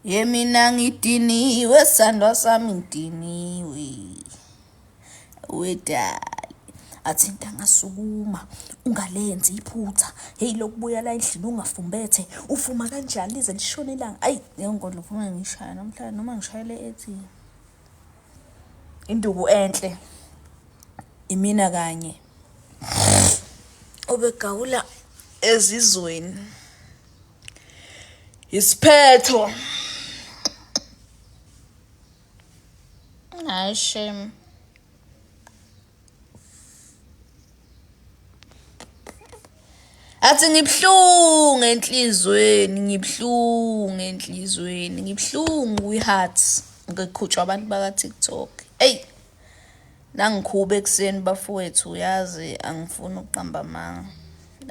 yemina ngidiniwe sandwa sami ngidiniwe wedali athi into angasukuma ungalenzi iphutha heyi lokubuya la endlini ungafumbethe ufuma kanjani lize lishone ilanga ayi ngengola ufuna ngishaya namhlanje noma ngishayele ethini Induku enhle. Imina kanye. Obegawula ezizweni. Isiphetho. Hayi shame. athi ngibuhlungu enhlizweni ngibuhlungu enhlizweni ngibuhlungu kwi-heart ngiqhutshwa abantu baka-tiktok eyi nangikhuba ekuseni bafowethu uyazi angifuni ukuqamba amanga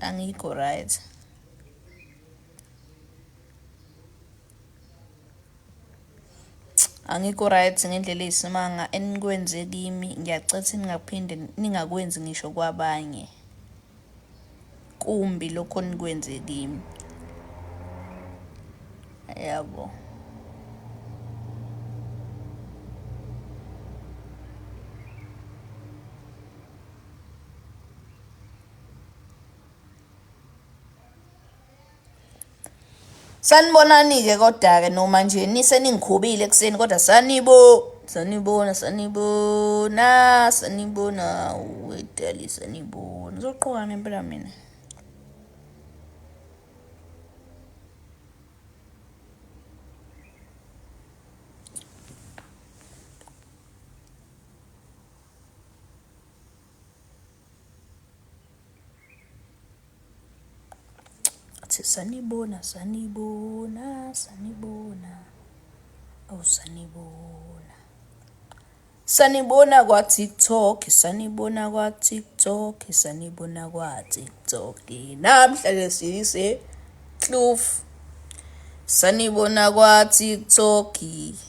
angikho right Angikho right ngendlela eyisimanga enikwenze kimi, ngiyacetha ningaphinde ningakwenzi ngisho kwabanye. Kumbi lokho enikwenze kimi. Yabo. Sanibonani-ke kodwa-ke noma nje niseningikhubile ekuseni kodwa sanibo sanibona sanibona sanibona wedali sanibona ngizoqoka ngempela mina athi sanibona sanibona sanibona awu sanibona sanibona kwa-tiktok sanibona kwa-tiktok sanibona kwa-tiktok namhlanje sise kloof sanibona kwa-tiktok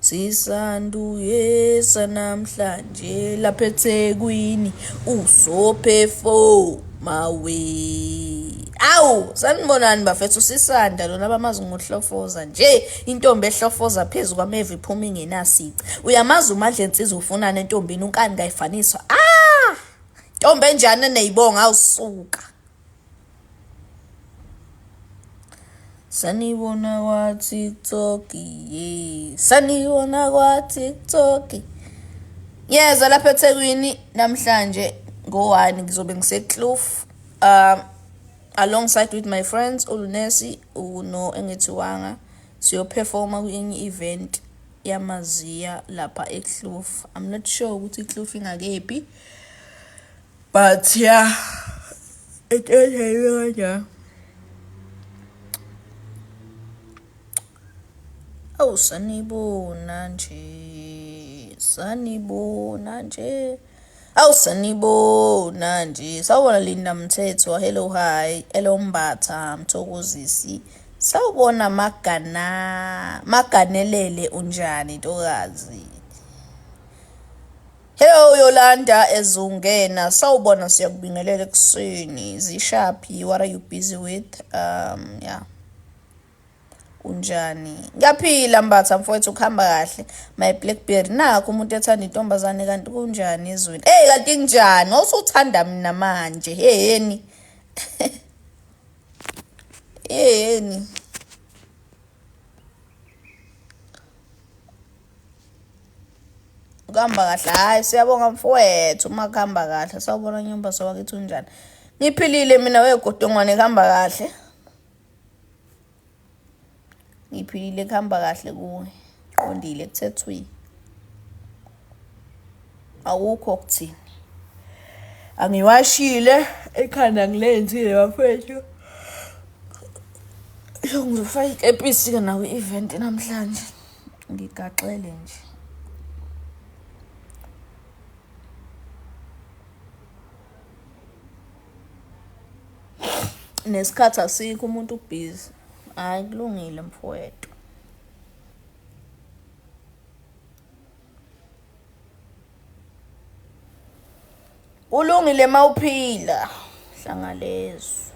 Sisanduyesa namhlanje lapha eThekwini uzophefo mawe. Awu sanibonani bafethu sisanda lona bamazi ngohlofoza nje intombi ehlofoza phezu kwamevi iphuma ingenasici. Uyamazi uMandla ensizwa ufunana entombini unkani kayifaniswa. Ah! Ntombi enjani eneyibonga awusuka. Sanibona kwa TikTok ye. Sanibona kwa TikTok. Yeza lapha eThekwini namhlanje ngowani ngizobe ngiseKloof um alongside with my friends uLunesi uno engethiwanga siyoperforma kwenye event yamaziya lapha eKloof. I'm not sure ukuthi iKloof ingakephi. but yeah it is a yona awu sanibona nje sanibona nje awu sanibona nje sawubona linda mthetho hello hi hello mbatha mthokozisi sawubona magana maganelele unjani ntokazi Hello Yolanda ezungena sawubona siyakubingelela ekuseni zishaphi what are you busy with um yeah unjani ngiyaphila mbatha mfowethu ukuhamba kahle my blackberry nakho umuntu ethanda intombazane kanti kunjani ezweni hey kanti kunjani wawusuthanda mina manje heyeni heyeni kuhamba kahle hayi siyabonga mfowethu uma kuhamba kahle sawubona nyumba sowakithi unjani ngiphilile mina wegodongwane kuhamba kahle ngiphilile kuhamba kahle kuwe qondile kuthethwini awukho kuthini angiwashile ekhanda ngilenzile bafethu ngizofaka ikepisi-ke nawo i-event namhlanje Ngigaxele nje. Nesikhathi asikho umuntu ubhizi. Hayi kulungile mfowethu. Kulungile mawuphila hlangalezwe.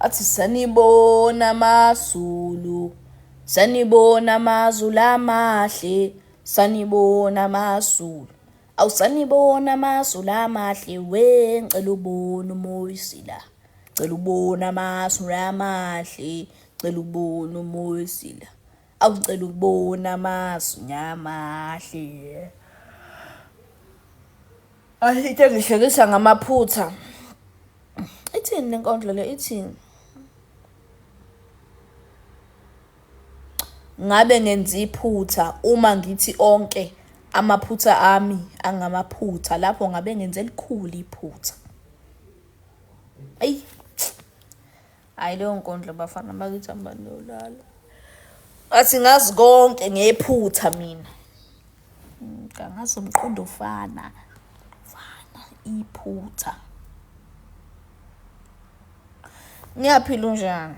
athi sanibona amazulu sanibona amazulu amahle sanibona amazulu awusanibona amazulu amahle we ngicela ubona umoyisi la cela ubone amasu amahle cela ubone umoyisila akucela ukubona amasu nyamahle ayithe ngihlekisa ngamaphutha ithini le nkondlo le ithini ngabe ngenza iphutha uma ngithi onke amaphutha ami angamaphutha lapho ngabe ngenze elikhulu iphutha eyi hhayi leyo nkondlo bafana bakithi hambani yolala athi ngazi konke ngephutha mina mm, kangazi umqondo ofana fana iphutha ngiyaphila unjani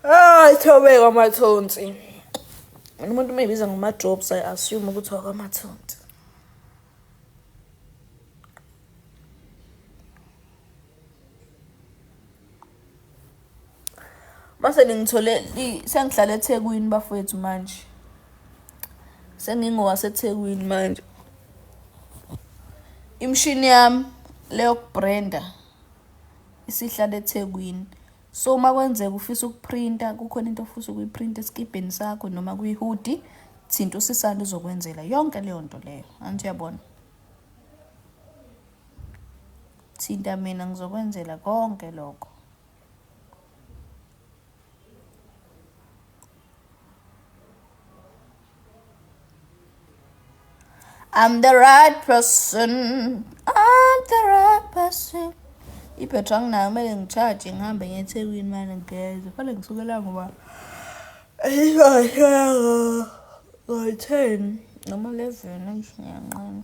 Ah, ithobeka amathonsi. Mina umuntu umeyibiza ngama jobs I assume ukuthi wakwamathonsi. Mase ningithole sengihlala eThekwini bafowethu manje. SengingowaseThekwini manje. Imshini yami leyokubrenda isihlala eThekwini. So uma kwenzeka ufisa ukuprinta kukhona into ofisa ukuyiprinta esikibheni sakho noma kwihudi thinta usisanda uzokwenzela yonke leyo nto leyo anti uyabona thinta mina ngizokwenzela konke lokho I'm the right person I'm the right person ibhetri anginayo kumele ngitshaje ngihambe ngethekwini mane ngigeze fane ngisukela ngoba ngoyi-ten noma eleven ngiyanqena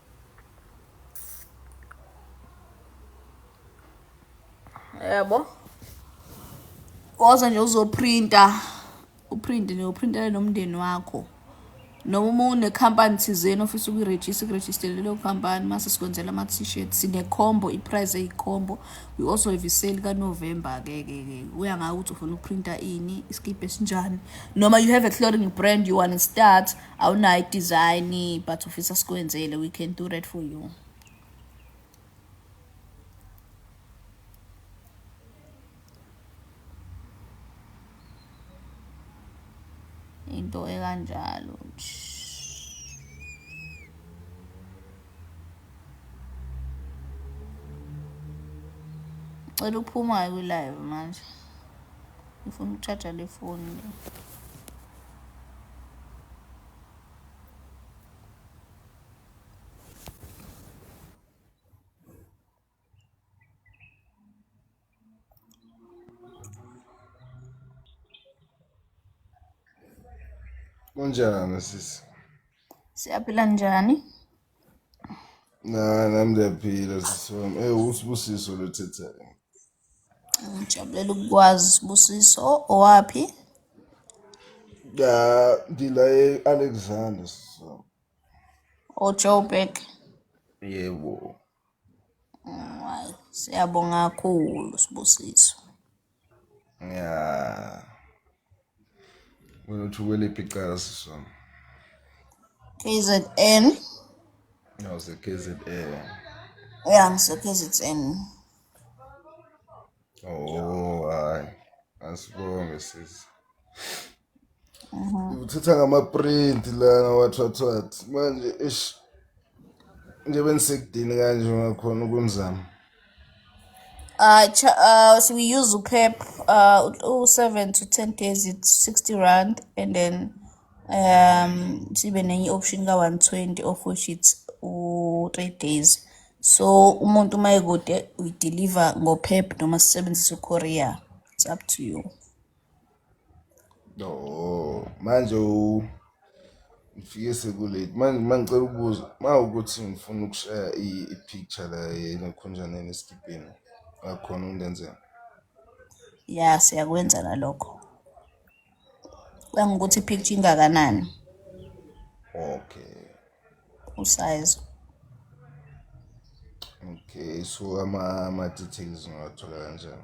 yabo woza nje uzoprinta uprinte nje uprintele nomndeni wakho noma uma unekhampani thizeni ofisa ukuyirejista kurejistele leyo khampani mase sikwenzela ama-t-shirt sinekhombo iprice eyikhombo we also have isale kanovemba ke ke ke uya ngayo ukuthi ufuna ukuprinta ini isikibhi esinjani noma you have a clothing brand you want to start awunayo i-design but ufisa sikwenzele we can do that for you into ekanjalo cela uphuma-ke kwi-live manje ngifuna ukutshaja le foni le Kunjani sisi? Siyaphila njani? Na nami ndiyaphila sisi wami. Eh usibusiso lothethayo. Ngijabulela ukukwazi Sibusiso owaphi? Ya ngila e-Alexander so. OJoburg. Yebo. Hayi, siyabonga kakhulu Sibusiso. Ya. Wena uthi ukweliphi icala sisi wami? KZN. Ngawuse KZN. Ya ngise KZN. Oh, hayi. Asibonge sisi. Mhm. Uthatha ngama-print lana wathathwathi manje ish nje bengisekudini kanje ngakhona ukumzama Uh, cha- uh, so we use UPEP, uh, u- u-7 to 10 days it's 60 rand and then um sibe nenye option ka-120 of which it's u-3 days. So umuntu uma ekude we deliver ngo-PEP noma sisebenzise u-courier. It's up to you. No, manje u ngifike sekulate manje uma ngicela ukubuza uma ukuthi ngifuna ukushaya i- i-picture la yenakhonjaneni esikibheni akhona undenzela ya siyakwenza nalokho kangukuthi i-picture ingakanani okay usize okay so ama- ama-details ngawathola kanjani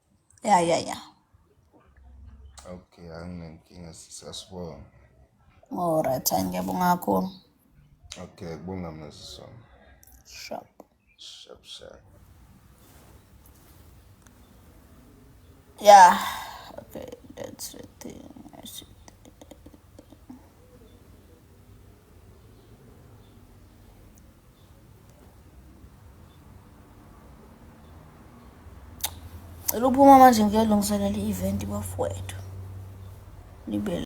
ya ya ya okay anginenkinga sasibona alright ngiyabonga kakhulu okay kubonga mnazisona shop shop shop yeah okay that's the thing I see. Cela uphuma manje ngiyolungiselela i-event bafowethu. Libe